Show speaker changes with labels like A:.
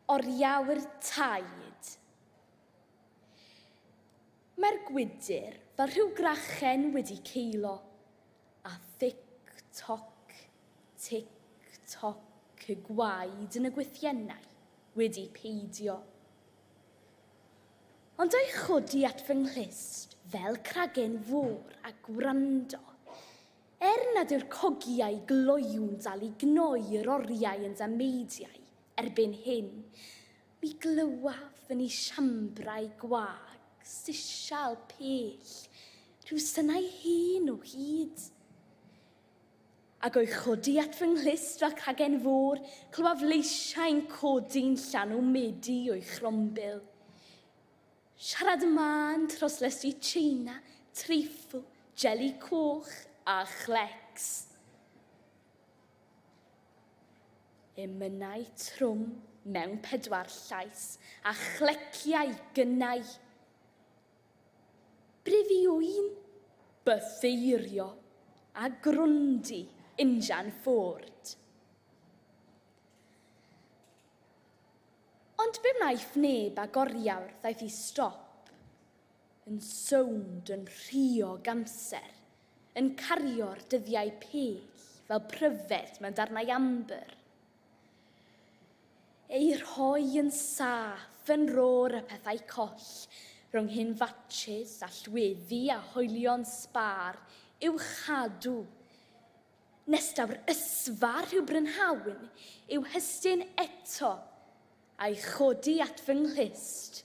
A: Oriau'r taid. Mae'r gwydr fel rhyw grachen wedi ceilo, a thic toc, tic toc y gwaed yn y gwythiennau wedi peidio. Ond a'i chodi at fy nghlust fel cragen fôr a gwrando, er nad yw'r cogiau gloywn dal i gnoi yr oriau yn dameidiau Erbyn hyn, mi glywaf yn ei siambrau gwag, sisial, pell, rhyw synau hen o hyd. Ac o'i chodi at fy nghlust fel cagen fôr, clywaf leisiau'n codi'n llanw medi o'i chrombil. Siarad y mân tros lestri Tsieina, treifl, jeli coch a chlecs. Emynau trwm mewn pedwar llais a chleciau gynnau. Brifiwyn, bytheirio a grwndi injan Ford. Ond be wnaeth neb ag oriawr ddaeth i stop. yn sownd yn rhuog amser, yn cario'r dyddiau pell fel pryfed mewn darnau ambr, eu rhoi yn saff yn rôr y pethau coll, rhwng hyn fatshys a llwyddi a hoelion sbâr, i'w chadw, nes daw'r ysfa rhyw brynhawn i'w hystyn eto, a'i chodi at fy nghlust,